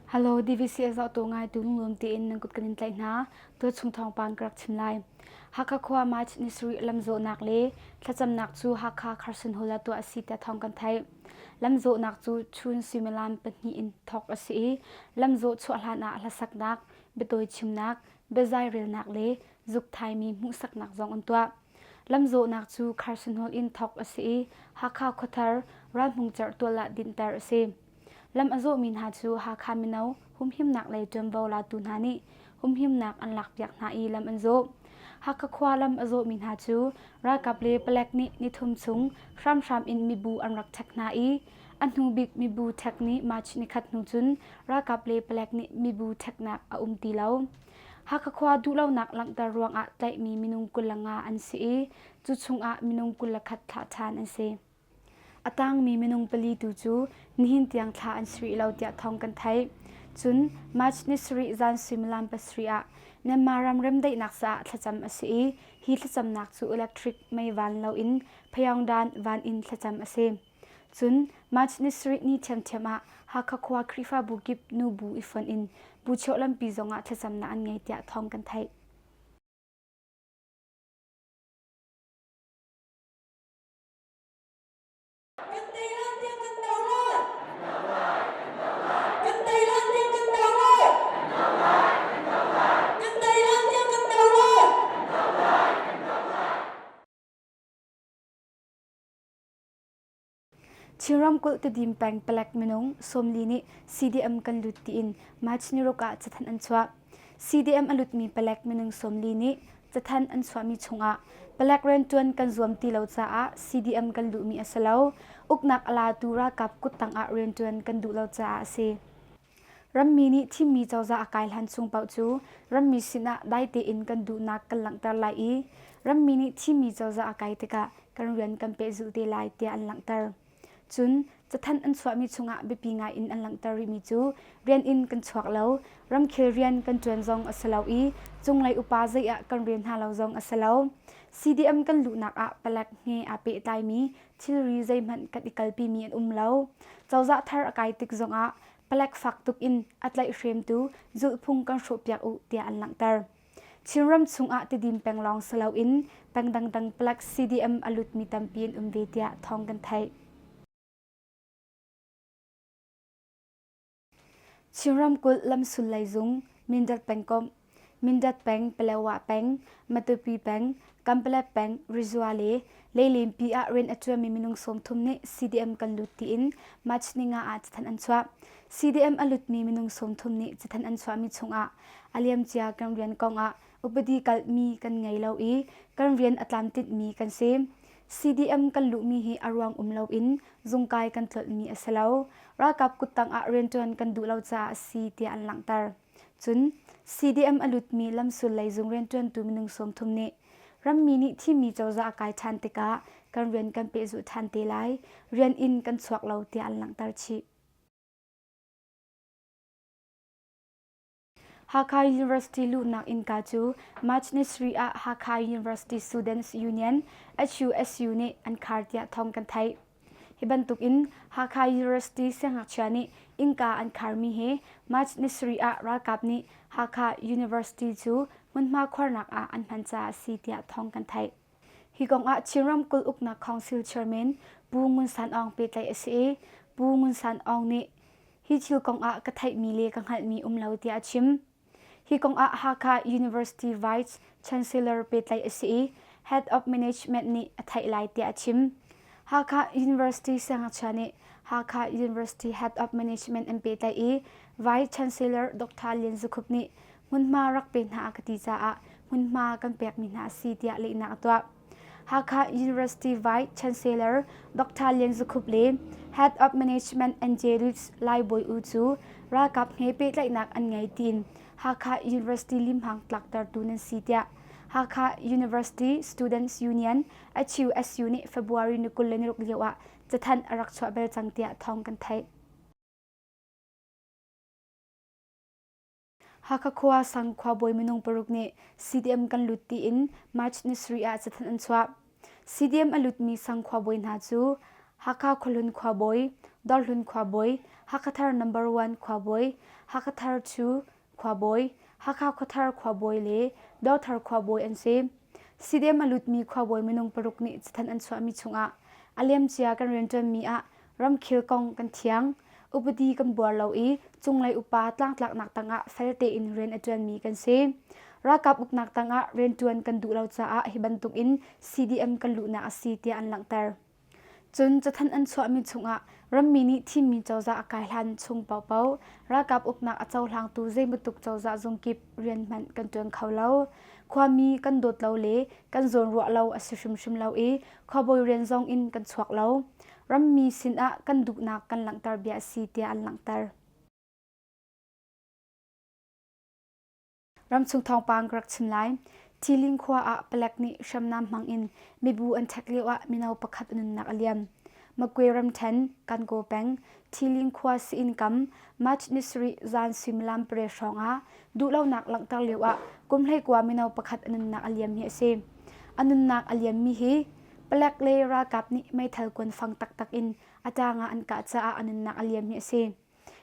Hello, DVCS tu ngai tu nglum tiin nan kut kanin tlai hna. Tu chung thong pang karak chim lai. Hakha khua mai chit ni suri lamzo nak le thlacam nak chu Hakha Carson Hall tu asi te thong kan thai. Lamzo nak chu chun suimilam pahnih in thok asi i lamzo chuah hlan ah hlasak nak, betoi chim nak, bezai rel nak le zuk thai mi hmuh sak nak zong an tua. Lamzawhnak cu Kharsanhol in thawk a si i Hakha khuathar Ralhmung Cerhtual ah dinhter a si. Lam a zawhmi hna cu Hakha mino humhimnak lei ṭuanvo latu hna nih humhimnak an lakpiak hna i lam an zawh. Hakha khua lam a zawhmi hna cu ralkap le palek nih nithum chung hramhram in mibu an rak ṭhek hna i a hnu bik mibu ṭhek ni March nikhat hnu cun ralkap le palek nih mibu ṭheknak a um ti lo. Hakha khua duhlonak langhter ruangah tlaihmi minung kul nga an si i cu chungah minung kul le khat thlah ṭhan an si. A tangmi minung pali tu cu nihin tiang thla an si rih lo tiah thawng kan theih. Cun March ni sarih zan suimilam pasarih ah Myanmar ram remdaihnak caah thlacam a si i hi thlacamnak cu electric mei van loin Phayongdan van in thlacam a si. Cun March ni sarih ni ṭhiamṭhiam ah Hakha khua Khrihfabu kip nu bu i fonh in bu cheuh lampi zongah thlacamnak an ngei tiah thawng kan theih. Chin ramkulh Tedim peng palek minung sawmli nih CDM kan lut tiin March ni ruk ah cathanh an chuah. CDM a lutmi palek minung sawmli nih cathanh an chuahmi chungah palek rianṭuan kan zuam ti lo caah CDM kan luhmi a si lo. Uknak a latu ralkap kuttang ah rianṭuan kan duh lo caah a si. Rammi nih thimmi cozah a kai hlan chung paoh cu rammi sinah dai tein kan duhnak kan langhter lai i rammi nih thimmi cozah a kai tikah kan rian kan pehzulh te lai tiah an langhter. Cun cathanh an chuahmi chungah biapi ngai in an langhter rihmi cu rian in kan chuak lo, ramkhel rian kan ṭuan zong a si lo i cunglei upa zei ah kan rel hna lo zong a si lo. CDM kan luhnak ah palek he aa pehtlaimi thilri zeihmanh kan i kalpimi an um lo. Cozah thar a kai tik zongah palek fak tuk in a tlaihhremtu zulhphung kan hrawhpiak u tiah an langhter. Chinram chungah tidim peng lawng si loin peng dangdang palek CDM a lutmi tampi an um ve tiah thawng kan theih. Chin ramkulh lamsulei zung Mindat pengkomh Mindat peng Paletwa peng Matupi peng Kanpalet peng Rizwa le Leilenpi ah rian a ṭuanmi minung sawmthum nih CDM kan lut tiin Machninga ah cathanh an chuah CDM a lutmi minung sawmthum nih cathanh an chuahmi chungah a liamcia kan rian kongah upadi kalhmi kan ngei lo i kan rian a tlamtlinh mi kan si. CDM kan luhmi hi a ruang um loin zungkai kan tlolhmi a si lo. Ralkap kuttang ah rianṭuan kan duh lo caah a si tiah an langhter. Cun CDM a lutmi lamsul lei zung rianṭuantu minung sawmthum nih rammi nih thimmi cozah a kai ṭhan tikah kan rian kan pehzulh ṭhan te lai. Rian in kan chuak lo tiah an langhter chih. Hakha University luhnak innka cu March ni sarih ah Hakha University Students Union, HUSU, nih an khar tiah thawng kan theih. Hi bantukin Hakha University siangngakchia nih innka an kharmi hi March ni sarih ah ralkap nih Hakha University cu hmunhma khuarnak ah an hman caah a si tiah thawng kan theih. Hi kongah Chin Ramkulh Uknak Council Chairman Pu Ngun San Aung pehtlaih a si i Pu Ngun San Aung nih hi thil kongah ka theihmi le ka hngalhmi um lo tiah a chim. Hi kongah Hakha University Vice Chancellor pehtlaih a si i Head of Management nih a theih lai tiah a chim. Hakha University Siangngachia nih Hakha University Head of Management an pehtlaih i Vice Chancellor Dr. Lian Zu Khup nih hmunhma rak pe hna ka ti caah hmunhma kan pekmi hna a si tiah lehnak a tuah. Hakha University Vice Chancellor Dr. Lian Zu Khup le Head of Management Angelus Lai Bawi U cu ralkap he pehtlaihnak an ngei tiin Hakha University limhang tlaktertu nan si tiah Hakha University Students Union HUSU nih February ni kul le niruk lio ah cathanh a rak chuah bel cang tiah thawng kan theih. Hakha khua sang khuabawi minung paruk nih CDM kan lut tiin March nisarih ah cathanh an chuah. CDM a lutmi sang khuabawi hna cu Hakha khuahlun khuabawi, Dorhlun khuabawi, Hakha thar number one khuabawi, Hakha thar two khuabawi, Hakha khuathar khuabawi le Dothar khuabawi an si. CDM a lutmi khuabawi minung paruk nih cathanh an chuahmi chungah a liamcia kan rianṭuanmi ah Ramkhel kong kan thiang. Upadi kan buar lo i cunglei upa tlangtlaknak tangah fel tein rian a ṭuanmi kan si. Ralkap uknak tangah rianṭuan kan duh lo caah hi bantukin CDM kan luhnak a si tiah an langhter. Cun cathanh an chuahmi chungah rammi nih thimmi cozah a kai hlan chung paohpaoh ralkap uknak a cohlangtu zeibantuk cozah zungkip rian hmanh kan ṭuan kho lo. Khuami kan dawt lo le kan zawn ruah lo a si hrimhrim lo i khuabawi rian zong in kan chuak lo. Rammi sinah kan duhnak kan langhter bia a si tiah an langhter. Ramchung thawngpang ka rak chim lai. Thiling khua ah palek nih hriamnam hmang in mibu an thek lio ah mino pakhat nunnak a liam. Makwe ramthen Kankaw peng Thiling khua siin kam March ni sarih zan suimilam pare hrawng ah duhlonak langhter lio ah kumhlei kua mino pakhat a nunnak a liam hi a si. A nunnak a liammi hi Palek le ralkap nih meithal kuanfang taktak in a tang ah an kah caah a nunnak a liam hi a si.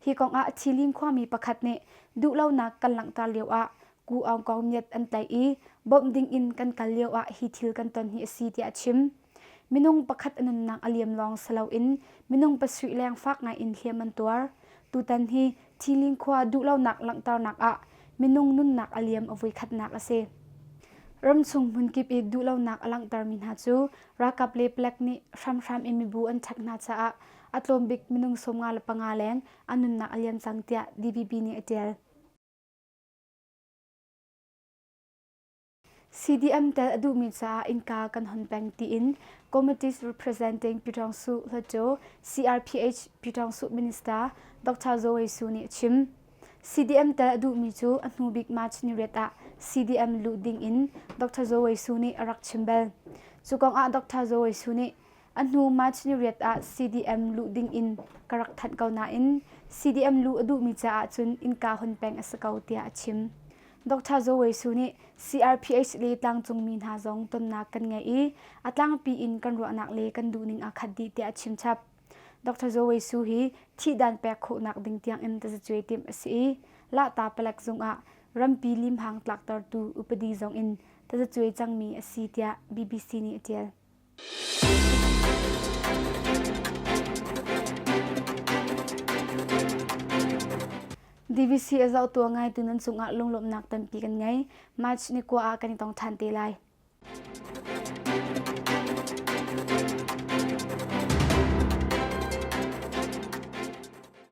Hi kong ah Thilin khuami pakhat nih duhlonak kan langhter lio ah Ku Aung Kong Myat an tlaih i bawmh ding in kan kal lio ah hi thil kan ton hi a si tiah a chim. Minung pakhat a nunnak a liam lawng si loin minung pasui leng fak ngai in hliam an tuar. Tutan hi Thilin khua duhlonak langhternak ah minung nunnak a liam a voikhatnak a si. Ramchung hmunkip i duhlonak a langhtermi hna cu ralkap le palek nih hramhram in mibu an chak hna caah a tlawmbik minung sawmnga le panga leng an nunnak a liam cang tiah DVB nih a ṭial. CDM tel a duhmi caah innka kan hon peng tiin Committees Representing Pyitawngsu Hlacaw CRPH Pyitawngsu Minister Dr. Zoe Su nih a chim. CDM tel a duhmi cu a hnu bik March ni riat ah CDM luh ding in Dr. Zoe Su nih a rak chim bel. Cu kong ah Dr. Zoe Su nih A hnu March ni riat ah CDM luh ding in ka rak thanh ko nain CDM luh a duhmi caah cun innka hun peng a si ko tiah a chim. Dr. Zaw Wei Su nih CRPH le tlangcungmi hna zong tonnak kan ngei i a tlangpi in kan ruahnak le kan duhning aa khat dih tiah a chim chap. Dr. Zaw Wei Su hi thihdan pek khawhnak ding tiangin tazacuai timh a si i Lahta palek zungah rampi limhang tlaktertu upadi zong in tazacuai cangmi a si tiah BBC nih a ṭial. DVC a zohtu ngaitu nan cungah lunglawmhnak tampi kan ngei. March ni kua ah kan i tong ṭhan te lai.